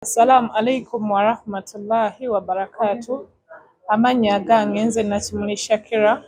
Assalamu alaikum warahmatullahi wabarakatu amannya agange nze Nakimuli Shakira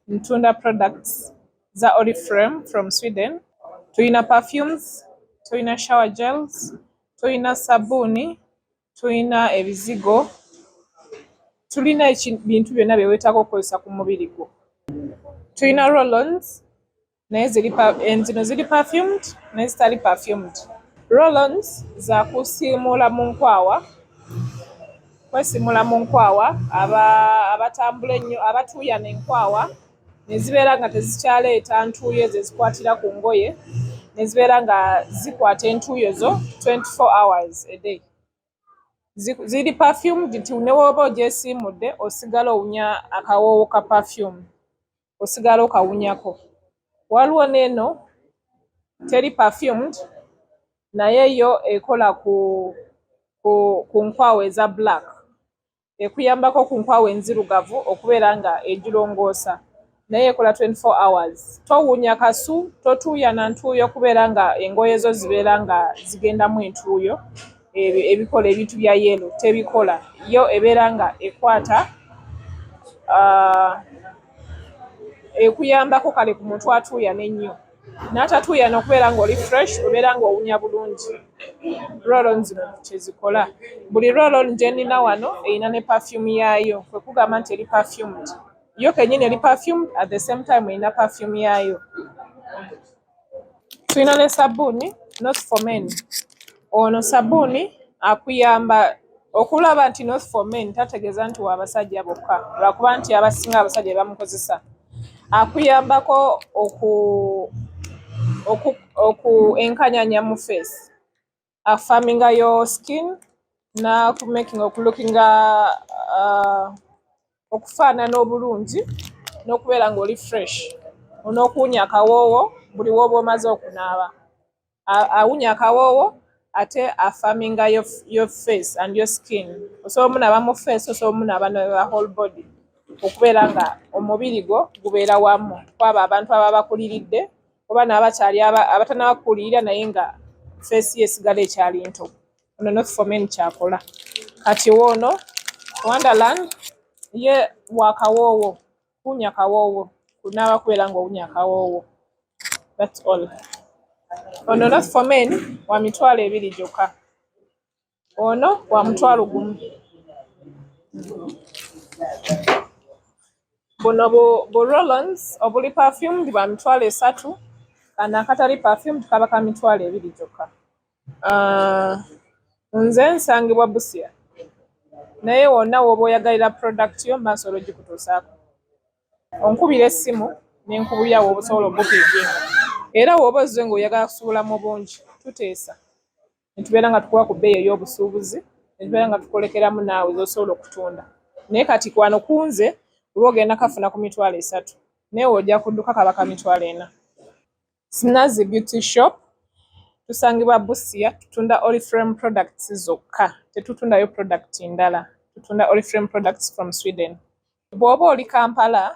ntunda products za Oriflame from Sweden tulina perfumes tulina shower gels tulina sabuni tulina ebizigo tulina ebintu byonna byewetaaga okukozesa ku mubiri gwo tulina rollons naye ziri eh, zino ziri perfumed naye zitali perfumed rollons zakusiimuula mu nkwawa kwesimula mu nkwawa abatambula ennyo abatuuya nenkwawa nezibeera nga tezikyaleeta ntuuyo ezo ezikwatira ku ngoye nezibeera nga zikwata entuuyo zo 24 hours a day ziri perfumed nti newoba ogyesiimudde osigala owunya akawoowo ka perfume osigala okawunyako waliwo neeno teri perfumed naye yo ekola ku ku, ku nkwawo eza black ekuyambako ku nkwawo enzirugavu okubeera nga egirongoosa naye ekola 24 hours towunya kasu totuuyana ntuuyo okubeera nga engoye zo zibeera nga zigendamu entuuyo ebyo ebikola ebintu bya yelo tebikola yo ebeera nga ekwata uh, ekuyambako kale ku muntu atuuya nennyo n'atatuuya nokubeera ngaoli fresh obeera ngaowunya bulungi rolon zino kyezikola buli rolon gyenina wano erina ne perfume yaayo kwekugamba nti eri perfumed yo kenyini eri perfumed at the same time erina perfume yaayo Tulina ne sabbuuni not for men. Ono sabbuuni akuyamba okulaba nti not for men tategeeza nti wa basajja bokka lwakuba nti abasinga abasajja bamukozesa. Akuyambako oku oku oku enkanyanya mu face. affirminga your skin na ku making okulookinga uh, okufaanana obulungi n'okubeera ng'oli fresh onookuwunya akawoowo buli wooba omaze okunaaba awunya akawoowo ate affirminga your, your face and your skin osobola omunaaba mu face osobola omunaaba ne whole body okubeera nga omubiri gwo gubeera wamu kwabo abantu ababa bakuliridde oba n'abakyali abatanaba kukulirira naye nga feesi ye esigala ekyali nto ono not for men kyakola kati woono wonderland ye wakawoowo kuwunya kawoowo kunaaba kubeera nga owunya kawoowo thats all ono not for men wa mitwalo ebiri gyokka ono wa mutwalo gumu buno bu, bu rollons obuli perfumed bwa mitwalo esatu kana akatali perfumed kaba ka mitwalo ebiri gyokka uh, nze nsangibwa busia naye wonna woba oyagalira product yo maaso olwogikutuusaako onkubira essimu nenkubuyawo obusobola obupiiginga era woba ozze nga oyagala kusuula mu bungi tuteesa ne tubeera nga tukuwa ku bbeeyi ey'obusuubuzi ne tubeera nga tukolekeramu naawe z'osobola okutunda naye kati kwano kunze oba ogenda kafuna ku mitwalo esatu naye ojja kudduka kaba ka mitwalo ena sinazi beauty shop tusangibwa busia tutunda oriframe products zokka tetutundayo product ndala tutunda oriframe products from sweden bw'oba oli kampala